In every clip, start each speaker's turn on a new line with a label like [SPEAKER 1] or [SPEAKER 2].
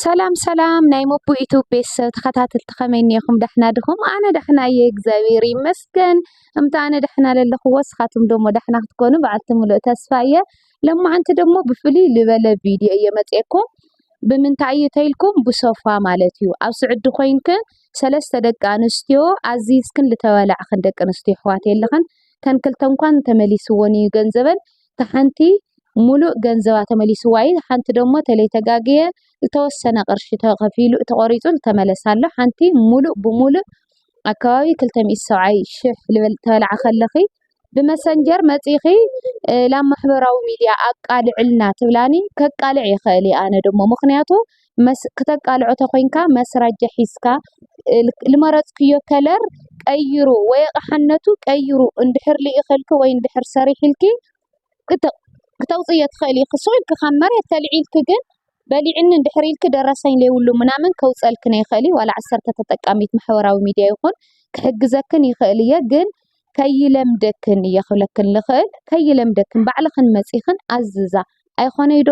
[SPEAKER 1] ሰላም ሰላም ናይ ሞቦ ዩቱብ ቤተሰብ ተኸታተልቲ ከመይ እኒኹም ዳሕና ድኹም? ኣነ ዳሕና እየ እግዚኣብሔር ይመስገን። እምታ ኣነ ዳሕና ለለኹዎ ስኻትኩም ደሞ ዳሕና ክትኮኑ በዓልቲ ሙሉእ ተስፋ እየ። ለማዓንቲ ደሞ ብፍልይ ልበለ ቪድዮ እየ መፅኤኩም። ብምንታይ እዩ ተይልኩም ብሶፋ ማለት እዩ ኣብ ስዑዲ ኮይንክን ሰለስተ ደቂ ኣንስትዮ ኣዚዝክን ልተበላዕክን ደቂ ኣንስትዮ ኣሕዋት የለኽን ተን ክልተ እንኳን ተመሊስዎን እዩ ገንዘበን እታ ሓንቲ ሙሉእ ገንዘባ ተመሊስዋ እዩ ሓንቲ ደሞ ተለይተጋግየ ዝተወሰነ ቅርሺ ተኸፊሉ ተቖሪፁ ዝተመለሰ ኣሎ። ሓንቲ ሙሉእ ብሙሉእ ኣብ ከባቢ ክልተ ሚእቲ ሰብዓይ ሽሕ ልበል ተበልዓ ከለኺ ብመሰንጀር መፂእኺ ናብ ማሕበራዊ ሚድያ ኣቃልዕልና ትብላኒ ከቃልዕ ይኽእል እየ ኣነ ደሞ ምኽንያቱ ክተቃልዖ ተኾይንካ መስራጃ ሒዝካ ልመረጽክዮ ከለር ቀይሩ ወይ ኣቕሓነቱ ቀይሩ እንድሕር ልኢኽልኪ ወይ እንድሕር ሰሪሒልኪ ክተውጽእዮ ትኽእሊ ኢኺ። ስቕ ኢልኪ ካብ መሬት ተልዒልኪ ግን በሊዕኒ እንድሕር ኢልኪ ደረሰኝ ለይብሉ ምናምን ከውጽኣልኪ ነይኽእል እዩ። ዋላ ዓሰርተ ተጠቃሚት ማሕበራዊ ሚድያ ይኹን ክሕግዘክን ይኽእል እየ ግን ከይለምደክን እየ ክብለክን ልኽእል ከይለምደክን ባዕልኽን መጺኽን ኣዝዛ ኣይኾነይ ዶ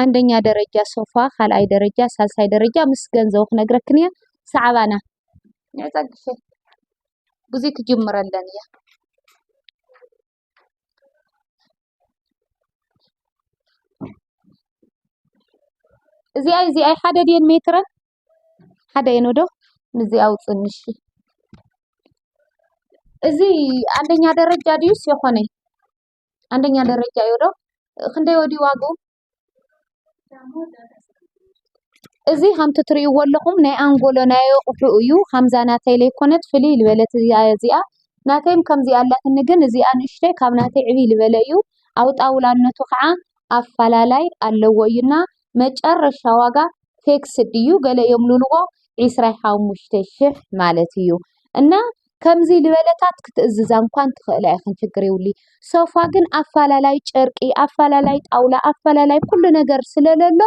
[SPEAKER 1] ኣንደኛ ደረጃ ሶፋ ካልኣይ ደረጃ ሳልሳይ ደረጃ ምስ ገንዘቡ ክነግረክን እየ ሰዓባና ንዕፀግፊ ብዙይ ክጅምረለን እየ እዚኣ እዚኣ ሓደ ድየን ሜትረን ሓደ እየን ዶ ምስዚኣ ውፅንሽ እዚ ኣንደኛ ደረጃ ድዩስ የኾነይ አንደኛ ደረጃ እዩ ዶ ክንደይ ወዲዩ ዋግኡ? እዚ ከምቲ ትሪእዎ ኣለኹም ናይ ኣንጎሎ ናይ ኣቑሑ እዩ። ከምዛ ናተይ ለይኮነት ፍልይ ልበለት እያ እዚኣ ናተይም ከምዚኣ ኣላትኒ ግን እዚኣ ንእሽተይ ካብ ናተይ ዕብይ ልበለ እዩ። ኣብ ጣውላነቱ ከዓ ኣፋላላይ ኣለዎ እዩ እና መጨረሻ ዋጋ ፌክስድ እዩ ገለ የምሉልዎ ዕስራ ሓሙሽተ ሽሕ ማለት እዩ እና ከምዚ ልበለታት ክትእዝዛ እንኳን ትኽእላ ኢኽን ችግር ይብሉ ሶፋ ግን ኣፈላላይ ጨርቂ ኣፈላላይ ጣውላ ኣፈላላይ ኩሉ ነገር ስለለሎ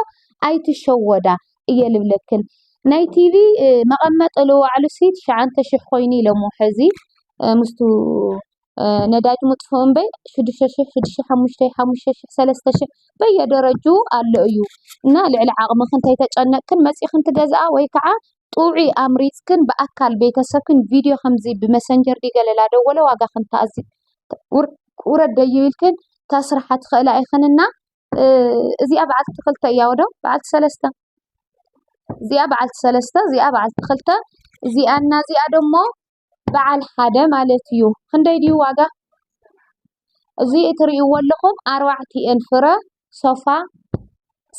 [SPEAKER 1] ኣይትሸወዳ እየ ልብለክን ናይ ቲቪ መቐመጢ ልዋዕሉ ሲ ትሽዓንተ ሽሕ ኮይኑ ኢሎሞ ሕዚ ምስቱ ነዳጅ ምጥፍኡ እምበይ ሽዱሽተ ሽሕ ሽዱሽተ ሽሕ ሓሙሽተ ሓሙሽተ ሽሕ ሰለስተ ሽሕ በየደረጅኡ ኣሎ እዩ እና ልዕሊ ዓቕምኽን ተይተጨነቅክን መፂኽን ትገዝኣ ወይ ከዓ ጥዑይ ኣምሪፅክን ብኣካል ቤተሰብክን ቪድዮ ከምዚ ብመሰንጀር ድዩ ገለ ላደወለ ዋጋኽን ተኣዚ ውረድ ደዩ ኢልክን ተስርሓ ትኽእላ ኢኽን እና እዚኣ በዓልቲ ክልተ እያ ወዶ በዓልቲ ሰለስተ እዚኣ በዓልቲ ሰለስተ እዚኣ በዓልቲ ክልተ እዚኣ እና እዚኣ ደሞ በዓል ሓደ ማለት እዩ ክንደይ ድዩ ዋጋ እዚ እትሪእዎ ኣለኹም ኣርባዕቲኤን ፍረ ሶፋ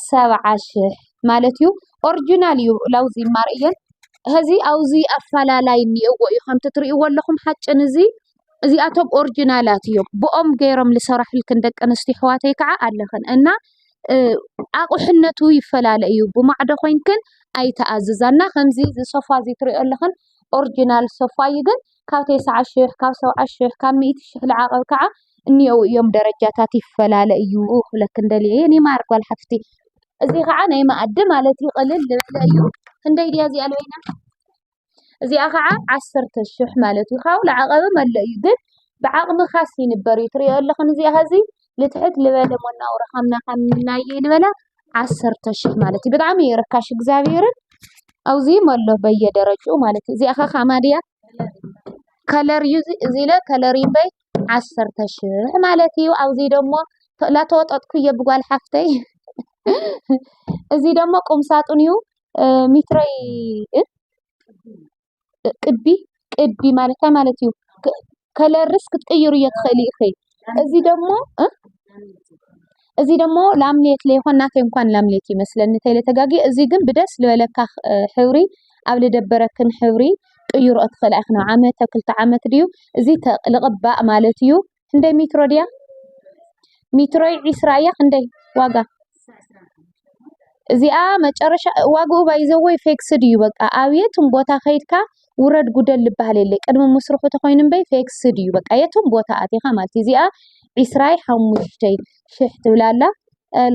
[SPEAKER 1] ሰብዓ ሽሕ ማለት እዩ ኦርጂናል እዩ ላውዚ ማር እየን እዚ ኣብዚ ኣፈላላይ እኒኦዎ እዩ ከምቲ እትሪእዎ ኣለኹም ሓጭን እዚ እዚኣቶም ኦርጂናላት እዮም ብኦም ገይሮም ዝሰራሕልክን ደቂ ኣንስትዮ ኣሕዋተይ ከዓ ኣለኽን እና ኣቑሕነቱ ይፈላለ እዩ ብማዕዶ ኮይንክን ኣይተኣዝዛና ከምዚ እዚ ሶፋ እዚ እትሪኦ ኣለኽን ኦርጅናል ሶፋ'ዩ ግን ካብ ቴስዓ ሽሕ ካብ ሰብዓ ሽሕ ካብ ሚእቲ ሽሕ ልዓቐብ ካዓ እኒኦው እዮም ደረጃታት ይፈላለ እዩ ክብለክን ደሊየ የኔ ማር ጓል ሓፍቲ እዚ ካዓ ናይ መኣዲ ማለት እዩ ቅልል ዝበለ እዩ ክንደይ ድያ እዚኣ ለበይና እዚኣ ካዓ ዓሰርተ ሽሕ ማለት እዩ ካብኡ ልዓቐብም ኣሎ እዩ ግን ብዓቕምኻስ ይንበር እዩ ትሪኦ ኣለኽን እዚኣ ሀዚ ንትሕት ዝበለ መነባብሮ ሃምናዮ ዝበለ ዓሰርተ ሽሕ ማለት እዩ። ብጣዕሚ እዩ ርካሽ እግዚኣብሔርን ኣብዙይ ኣሎ በየደረጅኡ ማለት እዩ። እዚኣ ከ ከማን እያ ከለር እዩ እዚ ኢለ ከለር እዩ እምበይ ዓሰርተ ሽሕ ማለት እዩ። ኣብዙይ ደግሞ ላተወጠጥኩ እየ ብጓል ሓፍተይ እዚ ደግሞ ቁምሳጡን እዩ ሚትረይ ቅዲ ቅዲ ማለት እንታይ ማለት እዩ? ከለርስ ክትቅይሩ እየ ትኽእሊ ኢኺ። እዚ ደግሞ እዚ ደግሞ ላምኔት ለይኮን ናተይ እንኳን ላምኔት ይመስለኒ ተይለ ተጋጊ እዚ ግን ብደስ ዝበለካ ሕብሪ ኣብ ልደበረክን ሕብሪ ቅይሮ እትኽእላ ኢኺ። ዓመተ ክልተ ዓመት ድዩ እዚ ልቕባእ ማለት እዩ። ክንደይ ሜትሮ ድያ ሜትሮይ ዒስራ እያ ክንደይ ዋጋ እዚኣ መጨረሻ ዋግኡ ባይዘወይ ፌክስድ እዩ በቃ ኣብ የትም ቦታ ከይድካ ውረድ ጉደል ዝበሃል የለ ቅድሚ ምስርሑ ተኮይኑ እምበይ ፌክስድ እዩ በቃ የትም ቦታ ኣቲኻ ማለት እዩ እዚኣ ዒስራይ ሓሙሽተይ ሽሕ ትብላ ኣላ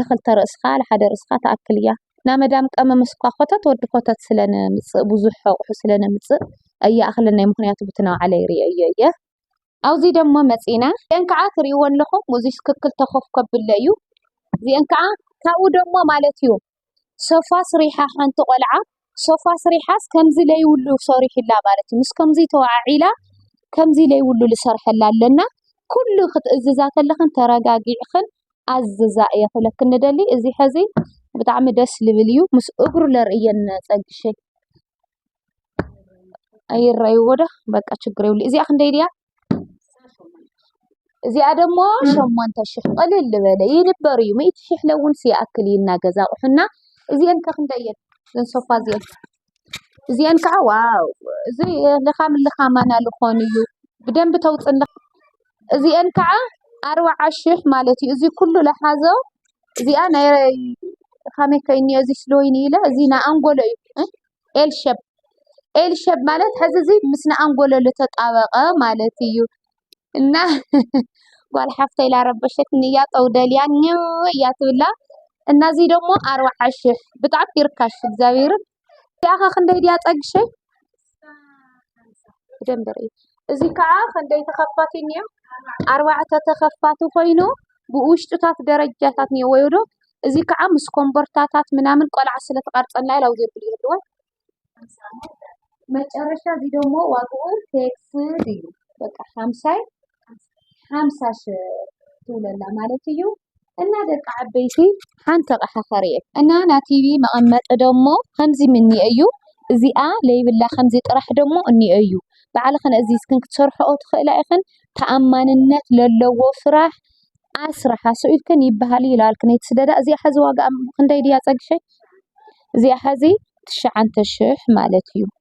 [SPEAKER 1] ንክልተ ርእስኻ ንሓደ ርእስኻ ትኣክል እያ ናብ መዳም ቀመም እስኳ ኮተት ወዲ ኮተት ስለነምፅእ ብዙሕ ኣቑሑ ስለነምፅእ እያ ኣኽለናይ ምክንያቱ ብትናው ዓለ ይርኦ እየ እየ ኣብዚ ደሞ መጺና እዚኤን ካኣ ትሪኢወን ኣለኹም እዚ ስክክል ተኾፍ ከብሎ እዩ እዚኤን ካኣ ካብኡ ደሞ ማለት እዩ ሶፋ ስሪሓ ሓንቲ ቆልዓ ሶፋ ስሪሓስ ከምዚ ለይብሉ ሰሪሑላ ማለት እዩ ምስ ከምዚ ተዋዓዒላ ከምዚ ለይብሉ ልሰርሐላ ኣለና ኩሉ ክትእዝዛ ከለኽን ተረጋጊዕኽን ኣዝዛ እየ ክብለክን ንደሊ እዚ ሐዚ ብጣዕሚ ደስ ልብል እዩ ምስ እግሩ ለርእየን ጸግሸይ ኣይረኣይዎ ዶ በቃ ችግር የብሉን። እዚኣ ክንደይ ድያ? እዚኣ ደግሞ ሸሞንተ ሽሕ ቅልል ዝበለ ይንበር እዩ ሚእቲ ሽሕ ለውንስ ይኣክል እዩ እና ገዛ ኣቑሑና እዚአን ከ ክንደይ እየን? እዘን ሶፋ እዚአን እዚአን ከዓ ዋው እዚ ልኻም ልኻማና ልኾን እዩ ብደንብ ተውፅን እዚኤን ክዓ ኣርብዓ ሽሕ ማለት እዩ። እዚ ኩሉ ለሓዞ እዚኣ ናይ ከመይ ከ እዩ እዚ ስለ ወይኒ ኢለ እዚ ናይ ኣንጎሎ እዩ ኤል ሸብ ኤል ሸብ ማለት ሕዚ እዚ ምስ ናይ ኣንጎሎ ዝተጣበቀ ማለት እዩ። እና ጓል ሓፍተይ ላረበሸትኒ እያ ጠው ደልያ ኝው እያ ትብላ እና እዚ ደሞ ኣርብዓ ሽሕ ብጣዕሚ ርካሽ እግዚኣብሔርን እዚኣ ከ ክንደይ ድያ ፀግሸይ? ብደንቢ ርእይ። እዚ ከዓ ክንደይ ተኸፋቲ እኒኦ? ኣርባዕተ ተኸፋቲ ኮይኑ ብውሽጡታት ደረጃታት እኒኦ ወይ ዶ እዚ ከዓ ምስ ኮምቦርታታት ምናምን ቆልዓ ስለተቐርፀና ኢላ ውዜ ብሉ የድዋ መጨረሻ እዚ ደግሞ ዋግኡ ቴክስ እዩ በቃ ሃምሳይ ሓምሳ ሽሕ ትብለላ ማለት እዩ እና ደቂ ዓበይቲ ሓንቲ ኣቕሓ ኸርእየክ እና ናቲቪ መቐመጢ ደሞ ኸምዚ ምኒ እዩ እዚኣ ለይብላ ኸምዚ ጥራሕ ደሞ እኒ እዩ ብዕልኽን እዝ ስክን ክትሰርሕኦ ትኽእላ ኢኽን ተኣማንነት ለለዎ ሥራሕ ኣሥራሓ ሱኢልክን ይብሃል ይለዓልክነይቲ ስለዳ እዚ ኸዚ ዋጋ ኽንደይ ድያ ጸግሸ እዚኣ ኸዚ ትሽዓንተ ሽሕ ማለት እዩ።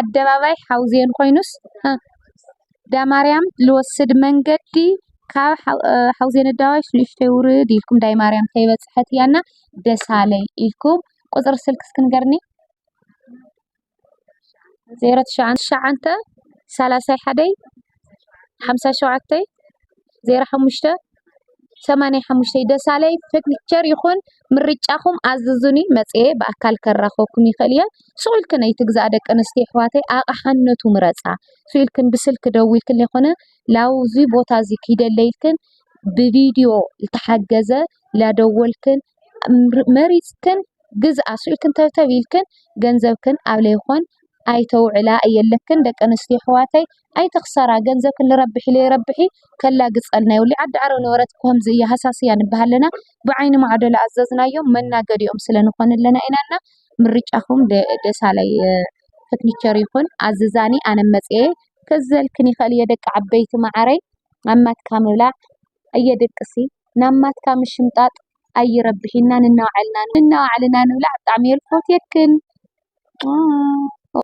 [SPEAKER 1] ኣደባባይ ሓውዜን ኮይኑስ ዳማርያም ልወስድ መንገዲ ካብ ሓውዜነኣደባባይ ሽዱሽተ ውርድ ኢልኩም ዳይማርያም ከይበፀሐት እያ እና ደሳለይ ኢልኩም ቁፅሪ ስልኪ እስኪ ንገርኒ ዜሮ ትሽዓተ ትሽዓተ ሰላሳ ሓደይ 570585 ደሳለይ ፈርንቸር ይኩን ምርጫኩም ኣዝዙኒ መፅየ ብኣካል ከራክበኩም ይክእል እየ ስቁልክን ኣይትግዛኣ ደቂ ኣንስትዮ ኣሕዋተይ ኣቅሓ ነቱ ምረፃ ስኢልክን ብስልኪ ደዊልክን ዘይኮነ ናብዙይ ቦታ እዙይ ኪደለይልክን ብቪድዮ ዝተሓገዘ ናደወልክን መሪፅክን ግዝኣ ስቅ ኢልክን ተብተብ ኢልክን ገንዘብክን ኣብ ለይኮን ኣይተውዕላ ኣየለክን ደቂ ኣንስትዮ ኣሕዋተይ ኣይትክሰራ ገንዘብክን ልረብሕ ኢለ ይረብሕ እየ ከላግፀልና የብሉይ ዓዲ ዓረብ ነበረት ከምዚ እያ ሃሳስ እያ ንብሃል ኣለና ብዓይኒ ማዕዶ ልኣዘዝናዮም መናገዲኦም ስለ ንኮን ኣለና ኢና እና ምርጫኩም ደሳላይ ፍትኒቸር ይኩን ኣዝዛኒ ኣነ መፅየ ከዘልክን ይክእል እየ ደቂ ዓበይቲ ማዓረይ ኣብ ማትካ ምብላዕ ኣየ ደቅሲ ናብ ማትካ ምሽምጣጥ ኣይረብሕን ኢና ንናዓልና ንብላዕ ብጣዕሚ እየ ልፎትየክን።